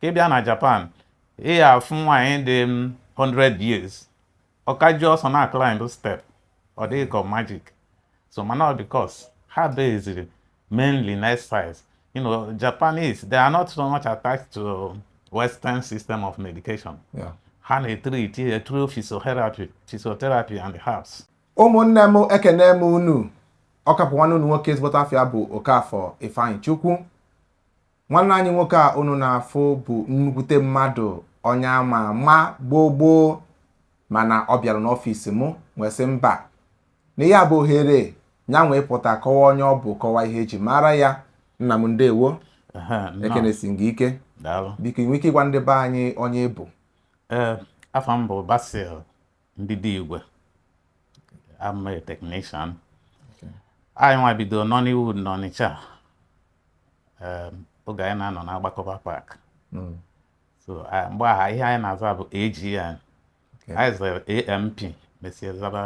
ka ị bịa na Japan ị ya afụ nwaanyị dị 100 mm, years ọ ka ji ọsọ na-aclimb step ọ dị gị ka magic so mana ọ because ha base mainly na exercise you know Japanese they are not so much attached to western system of medication yeah. ha na-etriti ya through physiotherapy physiotherapy and herbs ụmụnne m ekene m unu ọ ka bụ nwanne unu nwoke ezigbote afịa bụ Okafọ Ifeanyịchukwu Nwanne anyị nwoke a unu na-afụ bụ nnukwute mmadụ onye ama ama gboo gboo mana ọ bịara n'ọfịs m wee sị mba na ihe a bụ ohere ya wee pụta kọwa onye ọ bụ kọwa ihe e ji mara ya nna m ndewo ekenesie m gị ike biko i nwee ike ịgwa ndị be anyị onye ị bụ ee afa m bụ Basil Ndidigwe I'm a technician anyị nwa bido Nollywood n'Ọnịcha um, oge anyị na-anọ na Agbakọba Park hmm. so mgbe ahụ ihe anyị na-aza bụ AGN anyị zere AMP mesie zaba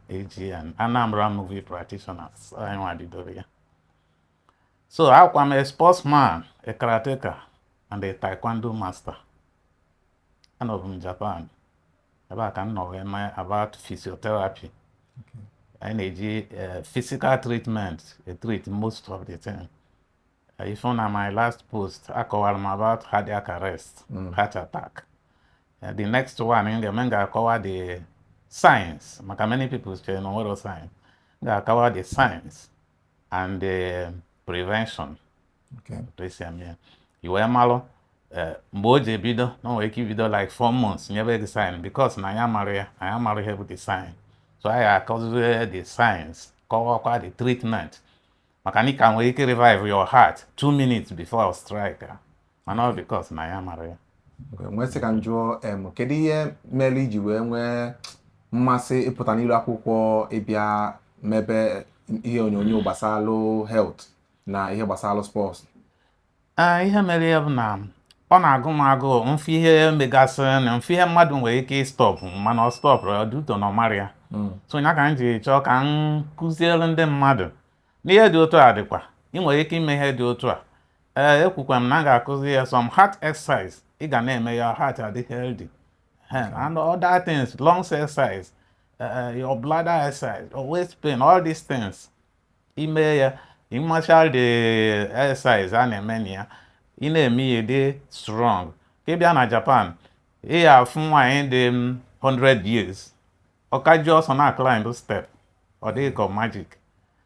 AGN Anambra Movie Practitioners anyị nwa bidoro ya so akwa m a sportsman a karateka and a taekwondo master anọbụ m Japan ebe a ka m nọ wee mụọ about physiotherapy anyị na-eji eh, physical treatment eh, treat most of the time eh, ị fụ na my last post akọwara m about cardiac arrest mm. heart attack the next one m ga-eme m ga-akọwa the signs maka many people chere na o nwerọ signs m ga-akọwa the signs and the prevention otu e si eme ya i wee malụ eh, mgbe o ji ebido na o nwere ike ibido like four months nyebe gị sign because na anyị amarọ ya anyị amarọ ihe bụ the sign so anyị akọzie the signs kọwakwa the treatment maka na ị ka nwere ike revive your heart two minutes before ọ strike ah. mana ọ because na anyị amarọ ya m wee sị ka m jụọ kedu ihe mere i ji wee nwee mmasị ịpụta n'iru akwụkwọ ịbịa mebe ihe onyonyo gbasalụ health na ihe gbasalụ sports ee ihe mere ya bụ na ọ na-agụ m agụụ m fụ ihe megasịrị na m fụ ihe mmadụ nwere ike ịstọpụ mana ọ stọpụrọ due to na ọ marọ ya hmm. so ya ka m ji chọọ ka m kụziere ndị mmadụ na ihe dị otu a dịkwa ị nwere ike ime ihe dị otu a ee ekwukwa m na m ga-akụzi ya some heart exercise ị ga na-eme your heart adị healthy and other things lungs exercise uh, your bladder exercise, your waist pain, all these things. i mee ya ị macha the exercise a na-eme na ya ị na-eme ya dị strong ka ị bịa na Japan ị ya afụ nwaanyị dị 100 years ọ ka ji ọsọ na climb step ọ dị ka magic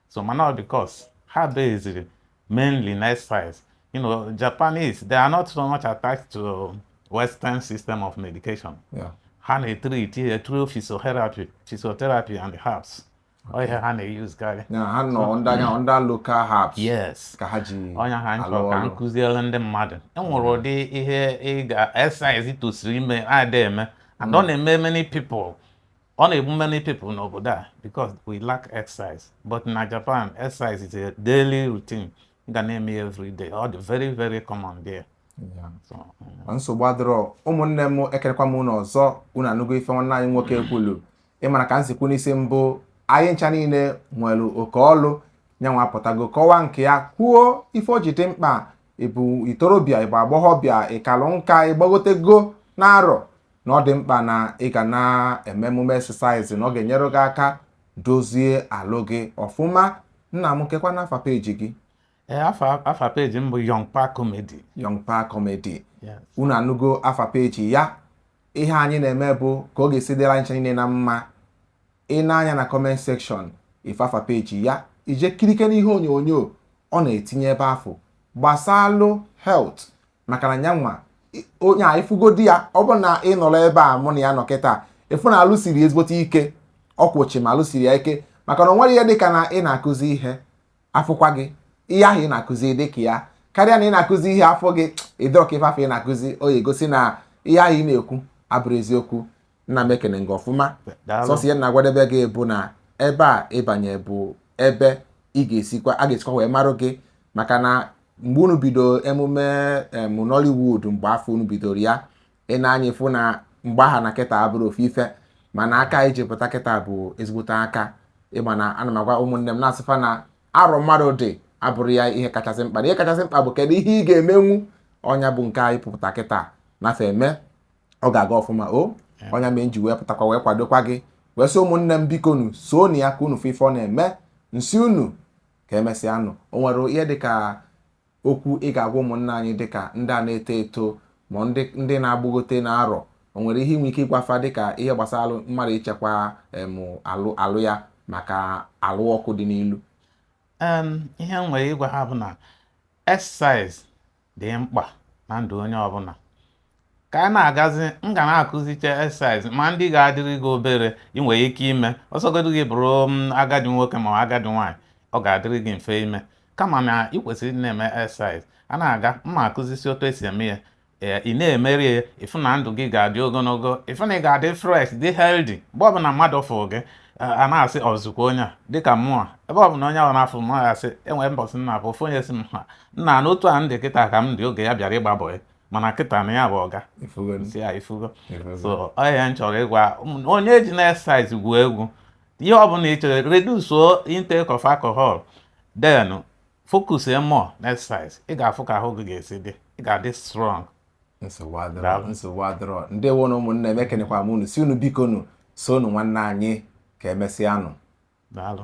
so mana ọ because ha beziri mainly na exercise you know Japanese they are not so much attached to western system of medication Yeah. ha na-etriti ya through physiotherapy physiotherapy and herbs ọ ihe ha na-eyuzkarị na ha nọ ndị anya ndị local herbs yes ka ha ji ọ nya ha m chọ ka m kụziere ndị mmadụ e nwere ụdị ihe exercise i tosiri ime ada eme and ọ na-eme many people ọ na-egbu many people n'obodo a because we lack exercise but na Japan exercise is a daily routine ị ga na-eme ya every day ọ dị very very common there Yeah. so, mm. nsogbu adịrọ ụmụnne m ekenekwa m unu ọzọ unu anụgo ife nwanne anyị nwoke kwulu ị mara ka m si kwu n'isi mbụ anyị ncha niile nwere oke ọlụ nyanwa apụtago kọwa nke ya kwuo ife o ji dị mkpa ị bụ itorobịa ị bụ agbọghọbịa ị kalụ nka ị gbagotego na arọ na ọ dị mkpa na ị ga na-eme emume exercise na ọ ga-enyere gị aka dozie alụ gị ọfụma nna m kekwanụ afa peji gị Eh, afa afa peji m bụ Young Pa Comedy Young Pa Comedy Yes. unu anụgo afa peji ya ihe anyị na-eme bụ ka ọ ga-esi dịrị anyị ncha niile na mma ị nee anya na comment section ị fụ afa peji ya i jee kirike n'ihe onyonyo ọ na-etinye ebe afụ gbasalụ health maka na ya nwa i- onye a ị fụgodi ya ọ bụ na ị nọrọ ebe a mụ na ya nọ kịta ị fụ na alụ siri ezigbote ike ọ kwụ chịm alụ siri ya ike maka na o nwere ihe dịka na ị na-akụzi ihe a fụkwa gị ihe ahụ ị na-akụzi dị ka ya karịa na ị na-akụzi ihe a fụ gị ị dịrọ ka ife afụ ị na-akụzi ọ ya-egosi na ihe ahụ ị na-ekwu abụrọ eziokwu nna m ekene gị ọfụma sọsọ ihe na-agwadebe gị bụ na ebe a ị banye bụ ebe ị ga-esikwa a ga-esikwa wee marụ gị maka na mgbe unu bido emume em Nollywood mgbe afụ unu bidoro ya ị nee anya ị fụ na mgbe aha na kịta abụrọ ofu ife mana aka anyị ji pụta kịta bụ ezigbote aka ị ma na ana m agwa ụmụnne m na-asị fa na arọ mmadụ dị abụrọ ya ihe kachasị mkpa na ihe kachasị mkpa bụ kedu ihe ị ga-emenwu ọ nya bụ nke anyị pụta kịta na-eme ọ ga-aga ọfụma o ọ nya mee m ji wee pụtakwa wee kwadokwa gị wee sị ụmụnne m biko nụ sonụ ya ka unu fụ ife ọ na-eme m sị unu ka emesịa nụ o nwere ihe dịka Okwu ị ga-agwa ụmụnna anyị dị ka ndị a na-eto eto ma ndị ndị na-agbagote na arọ. O nwere ihe ị nwere ike ịgwa fa dị ka ihe gbasalụ mmadụ ichekwa em alụ alụ ya maka alụ ọkụ dị n'ilu. Em ihe m nwere ịgwa ha bụ na exercise dị mkpa na ndụ onye ọbụla. ka a na-agazi m ga na-akụzicha exercise ma ndị ga-adịrị gị obere ị nwere ike ime ọ sọgodu gị bụrụ mm, agadi nwoke ma agadi nwaanyị ọ ga-adịrị gị mfe ime kama na ị kwesịrị ịdị na-eme exercise a na-aga m ma-akụzisi otu esi eme ya ee ị na-emeri ya ị fụ na ndụ gị ga-adị ogologo ị fụ na ị ga-adị fresh dị healthy mgbe ọbụla mmadụ fụrụ gị a- a na-asị ọ zikwa onye a dịka mụnwa ebe ọbụla onye ahụ na-afụ m ọ ya-asị e nwere mbọsị nna bụ ofu onye sị m ha nna na otu a m dị kịta ka m dị oge ya bịara ịgba bọị mana kịta na ya bụ ọga ọ ihe a m chọrọ ịgwa onye ejina exercise gwuo egwu ihe ọbụla ị chọrọ reduce intake of alcohol then focus more na exercise ị ga-afụ ka ahụ gị ga-esi dị ị ga-adị strong nsogbu adịrọ ndewo nụ ụmụnne m ekenekwa m unu sị unu biko nụ so nụ nwanne anyị ka emesịa nụ daalụ